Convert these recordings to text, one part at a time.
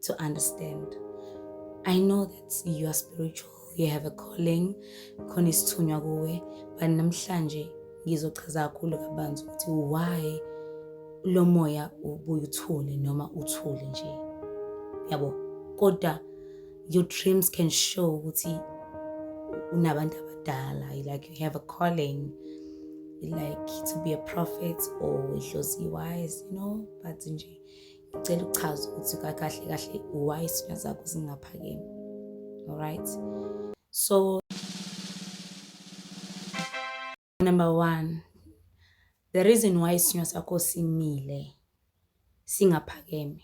to understand. I know that you are spiritual, you have a calling, khona isithunywa kuwe, but namhlanje ngizochaza kakhulu kabanzi ukuthi why lo moya ubuye uthule noma uthule nje. Yabo, kodwa your dreams can show ukuthi unabantu abadala, you like you have a calling like to be a prophet or idlozi wise, you know, but nje Ngicela ukuchaza ukuthi kakahle kahle why isithunywa zakho zingaphakeme. Alright. So number 1 the reason why isithunywa sakho simile singaphakeme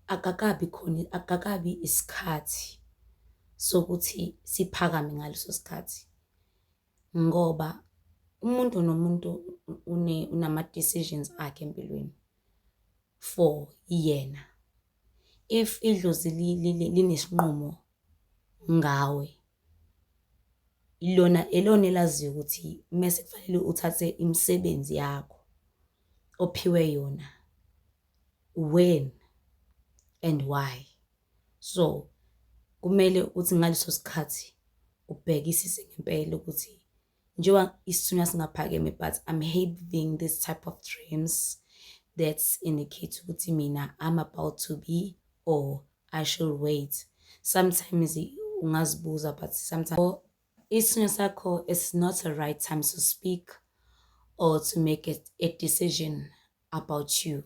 akakabi khona akakabi isikhathi sokuthi siphakame ngaleso sikhathi ngoba umuntu nomuntu unama-decisions akhe empilweni for yena. If idlozi linesinqumo ngawe, ilona, ilona elaziyo ukuthi uma sekufanele uthathe imisebenzi yakho ophiwe yona when and why. so kumele ukuthi ngaleso sikhathi ubhekisise ngempela ukuthi njengoba isithunywa singaphakeme but i'm having this type of dreams that indicate ukuthi mina i'm about to be or i should wait sometimes ungazibuza but sometimes oh, isithunywa sakho is not a right time to speak or to make a, a decision about you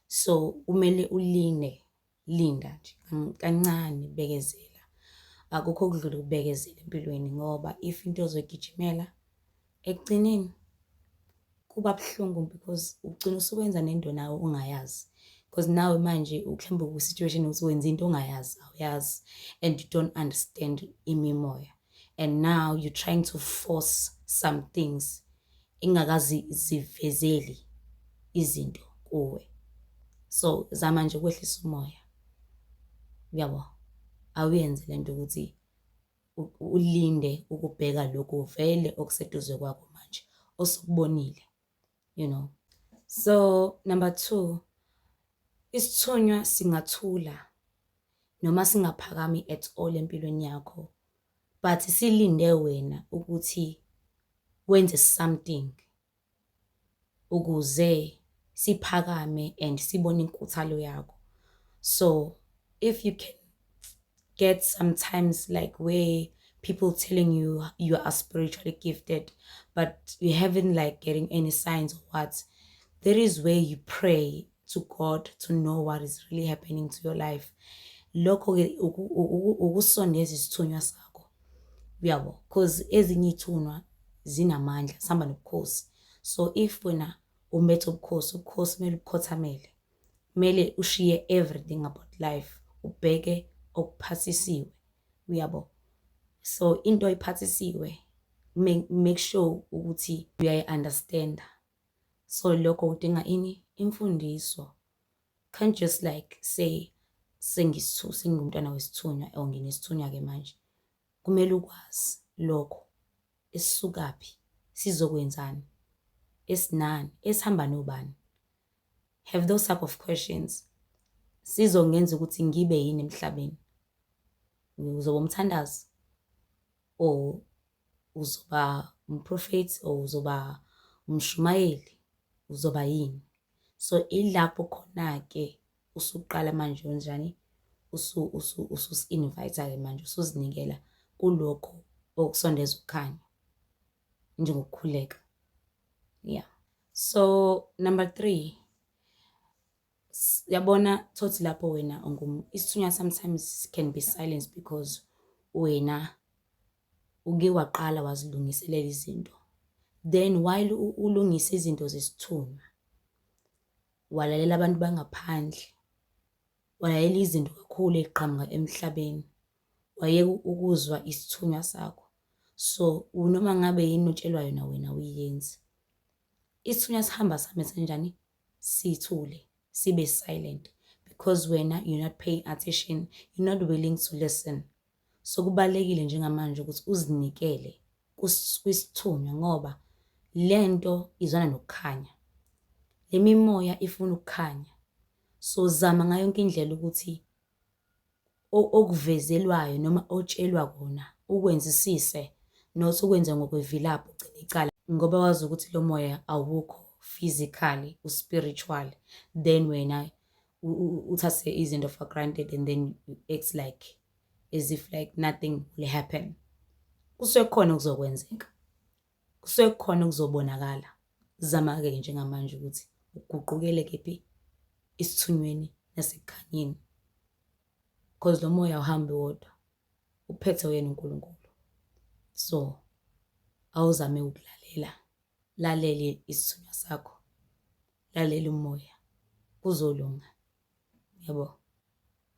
so kumele uline Linda nje kancane, bekezela. Akukho okudlula ukubekezela empilweni ngoba if into ozoyigijimela ekugcineni kuba buhlungu because ugcina usuwenza nento nawe ongayazi. Because nawe manje uhlamba ku-situation ukuthi wenza into ongayazi, awuyazi and you don't understand imimoya. and now you're trying to force some things ingakazi zivezeli izinto kuwe so zama nje ukwehlisa umoya uyabo awuyenze lento ukuthi ulinde ukubheka lokhu vele okuseduze kwakho manje osukubonile you know so number two isithunywa singathula noma singaphakami at all empilweni yakho but silinde wena ukuthi wenze something ukuze siphakame and sibone inkuthalo yakho so if you can get sometimes like where people telling you you are spiritually gifted, but you haven't like getting any signs or what. There is where you pray to God to know what is really happening to your life. Lokho ke ukusondeza isithunywa sakho. Uyabo, because ezinye ithunwa zinamandla, sihamba nobukhosi. So if wena umbethe ubukhosi, ubukhosi kumele ubukhothamele. Kumele ushiye everything about life ubheke okuphathisiwe. Uyabo? So into iphathisiwe make sure ukuthi uyayi-understanda. So lokho udinga ini? Imfundiso. Can't just like say sengisithu sengingumntwana wesithunywa or nginesithunywa-ke manje. Kumele ukwazi lokho, esisukaphi, sizokwenzani, esinani, esihamba nobani. Have those type of questions. Sizongenza ukuthi ngibe yini emhlabeni. Uzoba umthandazi or uzoba umprofethi or uzoba umshumayeli, uzoba yini. So ilapho khona-ke usuqala manje unjani ususi-invayitha-ke manje usuzinikela kulokhu okusondeza ukukhanya njengokukhuleka yeah so number three yabona thothi lapho wena ungum isithunywa sometimes can be silence because wena uke waqala wazilungiselela izinto then while ulungisa izinto zesithunywa walalela abantu bangaphandle, walalela izinto kakhulu eziqhamuka emhlabeni, wayeka ukuzwa isithunywa sakho. So noma ngabe yini otshelwa yona wena awuyenzi. Isithunywa sihamba sihambe senjani? Sithule, sibe silent because wena you're not paying attention, you're not willing to listen. Sekubalekile njengamanje ukuthi uzinikele kwisithunywa ngoba lento izwana nokukhanya. Le mimoya ifuna ukukhanya. So zama ngayo yonke indlela ukuthi okuvezelwayo noma otshelwa kona ukwenzisise not ukwenze ngokwevilaphu ugcine icala ngoba wazi ukuthi lo moya awukho physically uspiritual then wena uthathe izinto for granted and then you act like as if like nothing will happen kusuke kukhona okuzokwenzeka kusuke kukhona okuzobonakala zama-ke ke njengamanje ukuthi uguqukele kephi isithunyweni nasekukhanyeni because lo moya uhambe wodwa uphethe uyena uNkulunkulu so awuzame ukulalela lalele isithunywa sakho lalela umoya kuzolunga yabo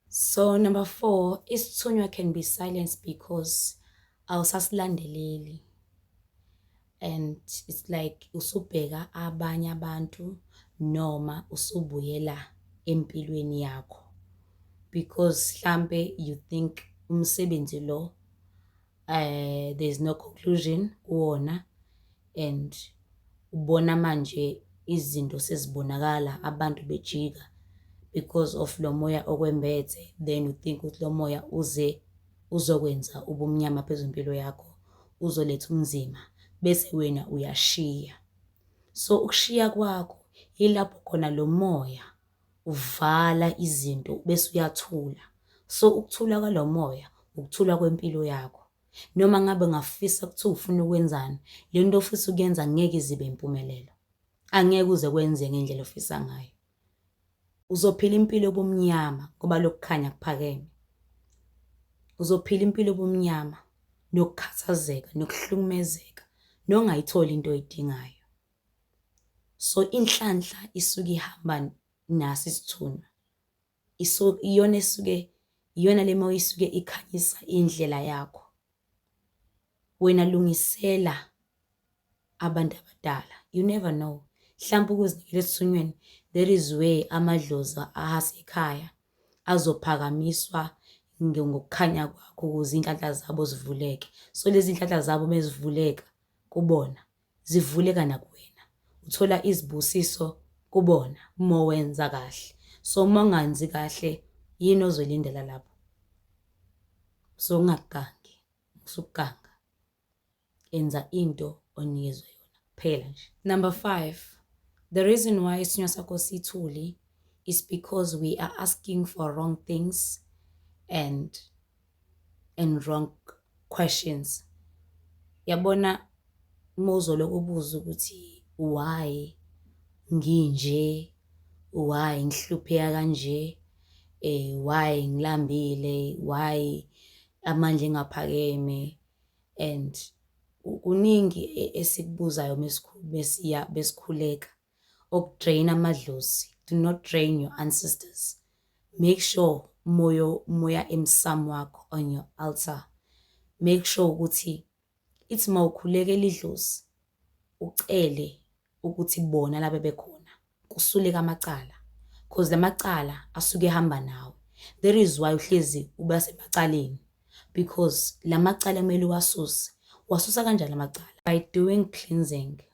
so number 4 isithunywa can be silenced because awusasilandeleli and it's like usubheka abanye abantu noma usubuyela empilweni yakho because hlambe you think umsebenzi lo eh there's no conclusion kuwona and ubona manje izinto sezibonakala abantu bejika because of lo moya okwembethe then u think ukuthi lo moya uze uzokwenza ubumnyama phezu impilo yakho uzoletha umzima bese wena uyashiya so ukushiya kwakho yilapho khona lo moya uvala izinto bese uyathula so ukuthula kwalo moya ukuthula kwempilo yakho noma ngabe ngafisa ukuthi ufuna ukwenzani le nto ofisa ukuyenza ngeke izibe impumelelo angeke uze kwenze ngendlela ofisa ngayo uzophila impilo obumnyama ngoba lokukhanya kuphakeme uzophila impilo obumnyama nokukhathazeka nokuhlukumezeka nongayitholi into oyidingayo So inhlanhla isuke ihamba naso isithunywa. Iso iyona esuke iyona le moya isuke ikhanyisa indlela yakho. Wena lungisela abantu abadala. You never know. Hlampe ukuzinikela esithunyweni there is where amadlozi asekhaya azophakamiswa ngokukhanya kwakho ukuze iy'nhlanhla zabo zivuleke. So lezi iy'nhlanhla zabo mezivuleka kubona zivuleka nakuwena uthola izibusiso kubona mowenza kahle so monganzi kahle yini ozoyilindela lapho so ungagangi usukuganga enza into onikezwe yona kuphela nje number 5 the reason why isinywa sakho sithuli is because we are asking for wrong things and and wrong questions. Yabona uma uzolokhu ubuza ukuthi why nginje, why ngihlupheka kanje, why ngilambile, why amandla engaphakeme and kuningi esikubuzayo mesikhuleka. okudrain amadlozi do not drain your ancestors make sure moyo moya emsamo wakho on your altar make sure ukuthi ithi mawukhulekela idlozi ucele ukuthi bona laba bekhona kusuleka amacala because lamacala asuke ehamba nawe that is why uhlezi uba semacaleni because lamacala kumele uwasuse wasusa kanjani lamacala by doing cleansing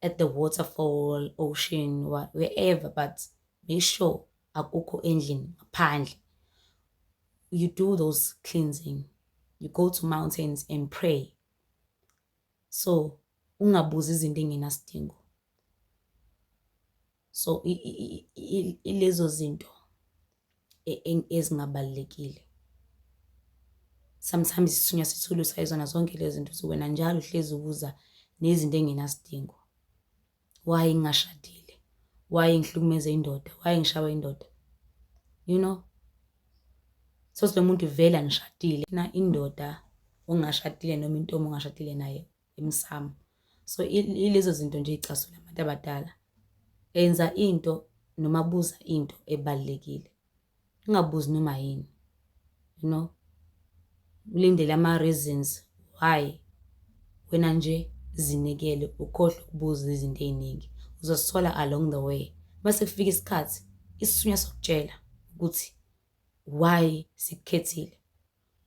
at the waterfall ocean wherever but make sure akukho endlini ngaphandle you do those cleansing you go to mountains and pray so ungabuzi izinto engenasidingo so ilezo zinto e, e, ezingabalulekile sometimes isithunywa sithulu sayizona zonke lezi zinto ukuthi wena njalo uhlezi ubuza nezinto engenasidingo why ngingashadile why ngihlukumeza indoda why ngishawa indoda you know so lo muntu vele angishadile na indoda ongashadile noma intombi ongashadile naye emsamo so ilezo zinto nje icasula abantu abadala enza into noma buza into ebalekile ungabuzi noma yini you know ulindele ama reasons why wena nje zinikele ukhohle ukubuza izinto eziningi uzosithola along the way base kufika isikhathi isisunya sokutshela ukuthi why sikukhethile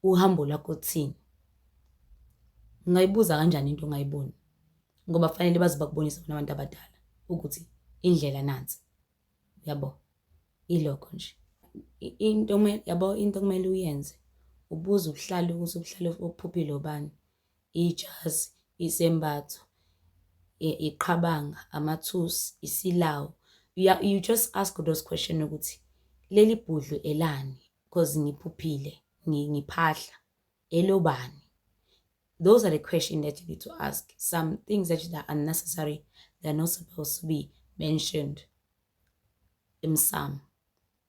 uhambo lwakho kuthini? Ungayibuza kanjani into ongayiboni ngoba kufanele baze bakubonise bona abantu abadala ukuthi indlela nansi. Uyabo? Ilokho nje. Into yabo into okumele uyenze, ubuze ubuhlalo ukuthi ubuhlalo obuphuphile obani. ijazi, isembatho, iqhabanga, amathusi, isilawu. You just ask those question ukuthi leli bhudlu elani because ngiphuphile ngiphahla elobani. Those are the questions that you need to ask. Some things that are unnecessary, they're not supposed to be mentioned. Imsamo.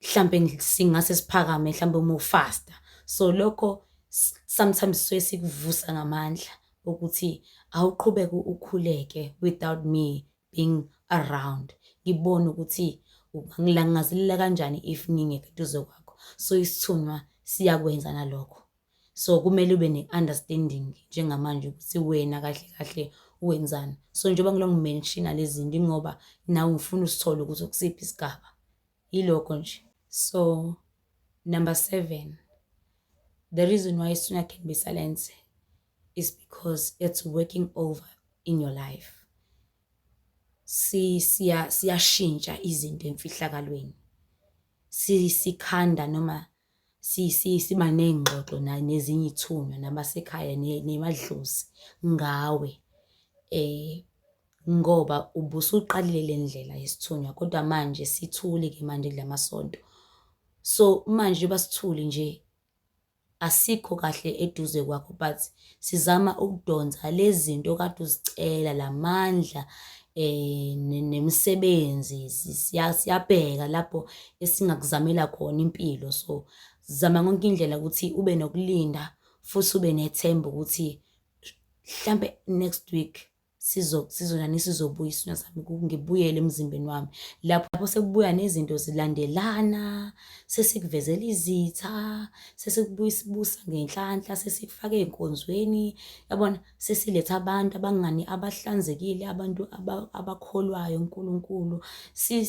hlampe singase siphakame hlampe uma ufasta so lokho sometimes suke sikuvusa ngamandla ukuthi awuqhubeke ukhuleke without me being around ngibone ukuthi ngilangazelela kanjani if ngingekho eduze kwakho so isithunywa siyakwenza nalokho so kumele ube ne-understanding njengamanje ukuthi wena kahle kahle wenzani so njengoba ngilongimenshina lezi zinto ingoba nawe ngifuna usithole ukuthi ukusiphi isigaba Yilokho nje. So number seven, the reason why Suna can be silenced is because it's working over in your life. Si siya siyashintsha izinto emfihlakalweni. Si sikhanda noma siba ney'ngxoxo nezinye iy'thunywa nabasekhaya nemadlozi ngawe ngoba ubusuqalile le ndlela yesithunywa kodwa manje sithule-ke manje kula masonto. So, manje njengoba sithule nje asikho kahle eduze kwakho but. sizama ukudonsa lezinto kade uzicela lamandla eh nemisebenzi siyabheka lapho esingakuzamela khona impilo so zama konke indlela ukuthi ube nokulinda futhi ube nethemba ukuthi mhlambe next week sizo sizonani sizobuya isino sami ngibuyele emzimbeni wami lapho lapho sekubuya nezinto zilandelana sesikuvezela izitha sesikubuya sibusa ngenhlanhla sesikufake enkonzweni yabona sesiletha abantu abangani abahlanzekile abantu abakholwayo uNkulunkulu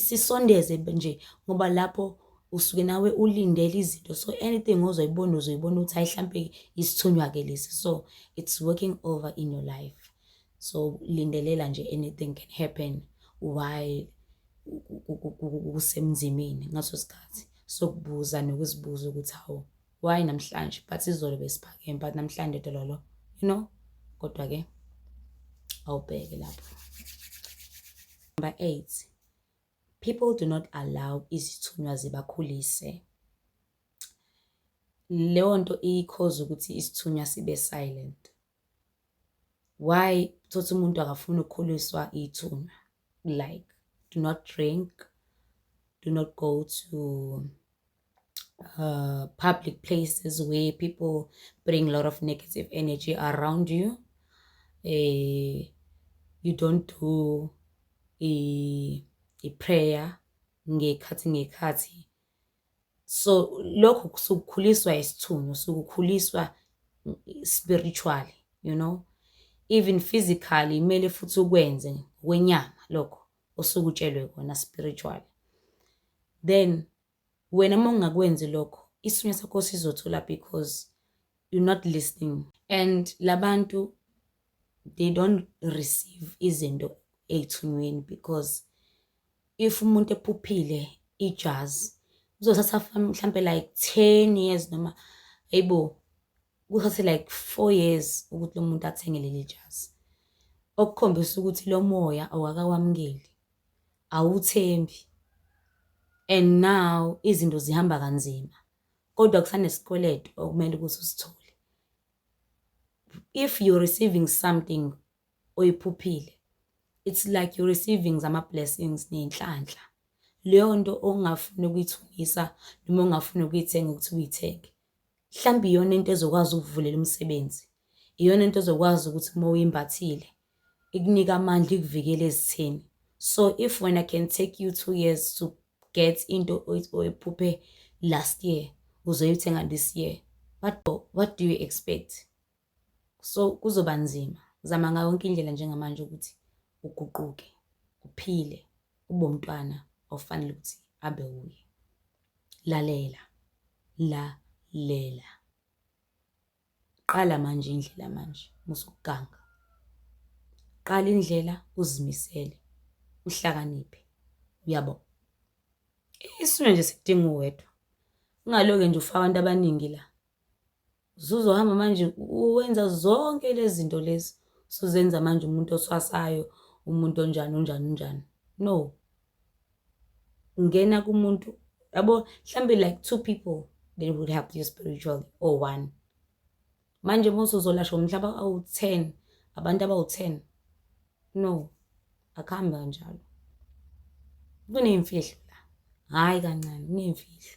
sisondeze nje ngoba lapho usuke nawe ulindele izinto so anything ozoyibona uzoyibona ukuthi hayi hlampe isithunywa-ke lesi so it's working over in your life so lindelela nje anything can happen while kusemzimini ngaso sikhathi sokubuza nokuzibuza ukuthi hawu why namhlanje but izolo besiphakeme but namhlanje dololo you know kodwa-ke awubheke lapho number eight People do not allow izithunywa zibakhulise. Leyo nto iyikhoza ukuthi isithunywa sibe silent. Why thothi umuntu akafuni ukukhuliswa ithunywa? Like do not drink, do not go to uh, public places where people bring a lot of negative energy around you uh, you don't do i-prayer ngekhathi ngekhathi so lokho sukukhuliswa isithunywa sukukhuliswa spiritually you know even physically kumele futhi ukwenze ngokwenyama lokho osukutshelwe kona spiritually then Wena uma ungakwenzi lokho isithunywa sakho sizothula because you're not listening. And labantu they don't receive izinto ey'thunyweni because if umuntu ephuphile ijazi uzothatha mhlampe like 10 years noma ayibo Kuthathe like four years ukuthi lo muntu athenge leli jazi, okukhombisa ukuthi lo moya awakawamukeli, awuthembi and now izinto zihamba kanzima, kodwa kusanesikweletu okumele ukuthi usithole. If you're receiving something oyiphuphile, it's like you're receiving zama-blessings ney'nhlanhla. Leyo nto ongafuni ukuyithungisa noma ongafuni ukuyithenga ukuthi uyithenge, mhlawumbe iyona into ezokwazi ukuvulela umsebenzi iyona into ezokwazi ukuthi uma uyimbathile ikunika amandla ikuvikele ezitheni so if when i can take you two years to get into oyiphuphe last year uzoyithenga this year what do, what do you expect so kuzoba nzima zama ngayo yonke indlela njengamanje ukuthi uguquke uphile ube umntwana ofanele ukuthi abe wuye lalela lalela qala manje indlela manje musukuganga qala indlela uzimisele uhlakaniphe uyabo isimo nje sidinga uwedwa ungaloke nje ufaka abantu abaningi la Suzohamba manje uwenza zonke lezi zinto lezi suzenza manje umuntu oswasayo umuntu onjani unjani unjani no ngena kumuntu yabo mhlambe like two people that would help you spiritually or one manje uma usuzolashwa umhlaba awu-ten abantu abawu-ten no akuhambi kanjalo kuney'mfihlo la hhayi kancane kuney'mfihlo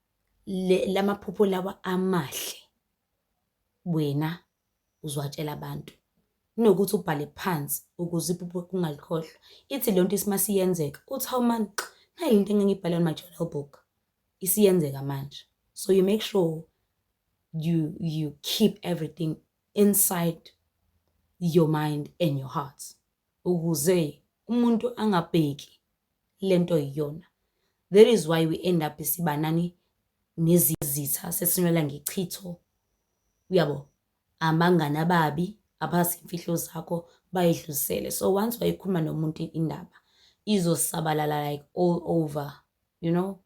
la maphupho lawa amahle wena uziwatshela abantu kunokuthi ubhale phansi ukuze iphupho ungalikhohlwa. Ithi le nto uma isiyenzeka uthi, hawu mani nayi le nto engangiyibhala on my journal book, isiyenzeka manje. So you make sure you you keep everything inside your mind and your heart ukuze umuntu angabheki le nto yiyona. That is why we end up siba nani? Nezitha, sesinwela ngechitho. Uyabo? Abangani ababi abazi imfihlo zakho bayidlulisele. So once wayikhuluma nomuntu indaba izosabalala like all over, you know?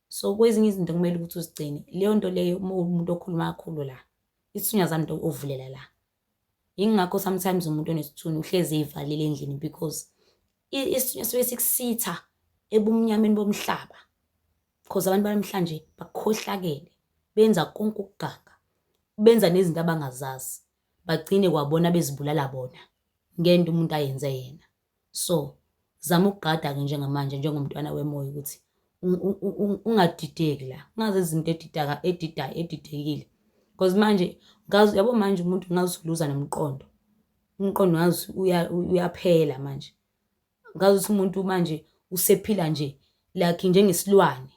So kwezinye izinto kumele ukuthi uzigcine. Leyo nto leyo uma uwumuntu okhuluma kakhulu la, isithunyazane into ovulela la. Yingakho sometimes umuntu onesithunzi uhlezi ey'valile endlini because isithunywa suke sikusitha ebumnyameni bomhlaba because abantu banamhlanje bakhohlakele benza konke ukuganga benza nezinto abangazazi bagcine kwabona bezibulala bona ngento umuntu ayenze yena So zama ukugada-ke njengamanje njengomntwana wemoya ukuthi ungadideki la, ungazi izinto edidaka edidayo edidekile. Because manje ngazi yabo manje umuntu ngazi usuluza nomqondo. Umqondo ngazi uyaphela manje. Ngazi ukuthi umuntu manje usephila nje like njengesilwane.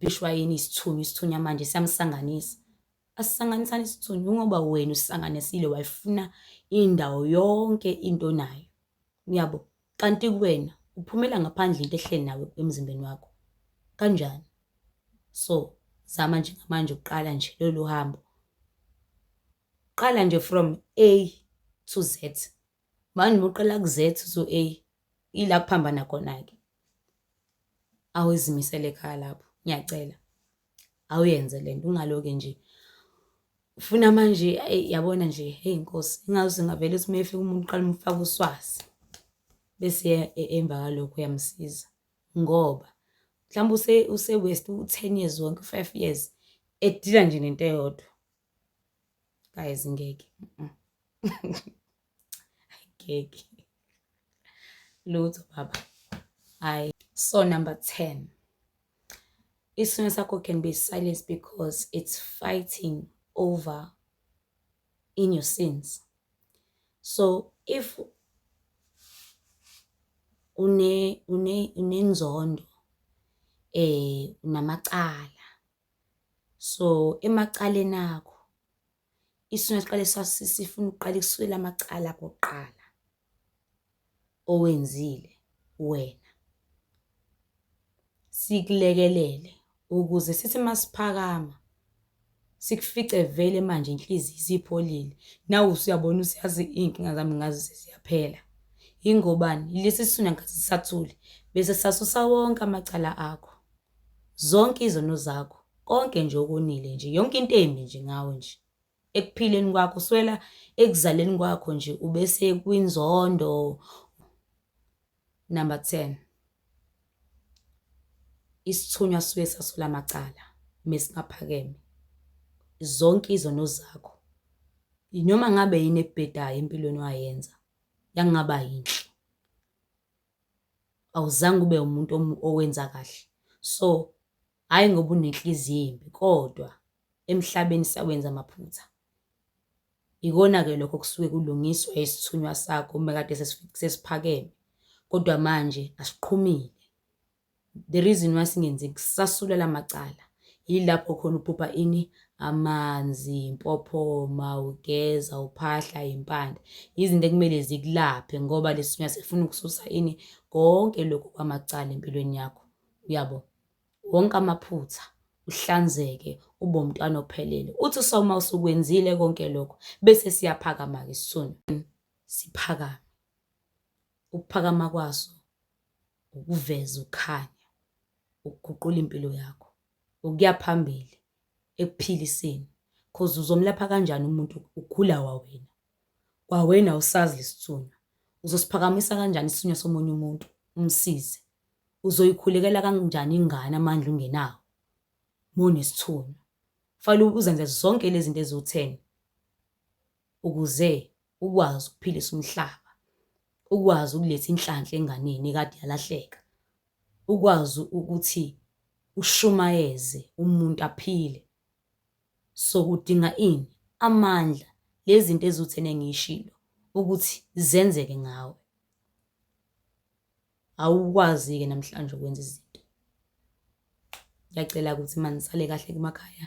Bishwayini isithunywa, isithunywa manje siyamsanganisa. Asisanganisani isithunzi kungoba wena usisanganisile wayifuna indawo yonke into onayo. Uyabo? Kanti kuwena uphumela ngaphandle into ehleli nawe emzimbeni wakho. Kanjani? So, zama nje ngamanje uqala nje lolu hambo. Qala nje from A to Z. Manje uma uqala ku Z to A, ila kuphambana khona-ke. Awezimisele ekhaya lapho, ngiyacela. awuyenze lento ungaloke nje ufuna manje eyi yabona nje heyi nkosi ingazi singavele uthi uma efika umuntu uqala umfaka uswazi bese e- e- emva kalokho uyamsiza ngoba mhlawumbe use- use-west u-ten years wonke u-five years edila nje nento eyodwa guys ngeke ngeke lutho baba hayi so number 10 isimo sakho can be silenced because it's fighting over in your sins so if une une unenzondo eh unamacala So emacaleni akho isona siqale sifuna ukuqala ikusulela amacala koqala owenzile wena sikulekelele ukuze sithi masiphakama sikufice vele manje inhliziyo isipholile nawe usuyabona usiyazi iy'nkinga zami ngazi seziyaphela yingobani lesi sona ngathi sisathule bese sasusa wonke amacala akho Zonke izono zakho, konke nje okonile nje, yonke into embi nje ngawe nje. Ekuphileni kwakho, kusukela ekuzaleni kwakho nje ube sekwinzondo. Number 10. Isithunywa suke sasula amacala mesingaphakeme. Zonke izono zakho. Noma ngabe yini ebhedayo empilweni wayenza, yakungaba yinhle. awuzange ube umuntu owenza kahle. So, hhayi ngoba unenhliziyo embi kodwa emhlabeni siyawenza amaphutha. Ikona-ke lokho okusuke kulungiswa isithunywa sakho uma kade sesiphakeme, kodwa manje asiqhumile. The reason why singenzi sasula lamacala yilapho khona uphupha ini amanzi impophoma ugeza uphahla impande izinto ekumele zikulaphe ngoba lesunya sifuna ukususa ini konke lokhu kwamacala empilweni yakho uyabo wonke amaphutha uhlanzeke ube umntwana ophelele uthi soma usukwenzile konke lokho bese siyaphakama ke sisona siphakame Ukuphakama kwaso ukuveza ukukhanya, ukuguqula impilo yakho, ukuya phambili ekuphiliseni cause uzomlapha kanjani umuntu ugula wawena, wawena awusazi lesithunywa. Uzosiphakamisa kanjani isithunywa somunye umuntu umsize? Uzoyikhulekela kanjani ingane amandla ungenawo mowunesithunywa? Kufanele uzenze zonke lezinto eziwu-ten ukuze ukwazi ukuphilisa umhlaba, ukwazi ukuletha inhlanhla enganeni ekade yalahleka, ukwazi ukuthi ushumayeze umuntu aphile. So kudinga ini? Amandla, lezi zinto eziwutheni engiyishilo ukuthi zenzeke ngawe. Awukwazi-ke namhlanje ukwenza izinto. Ngiyacela ukuthi manisale kahle emakhaya.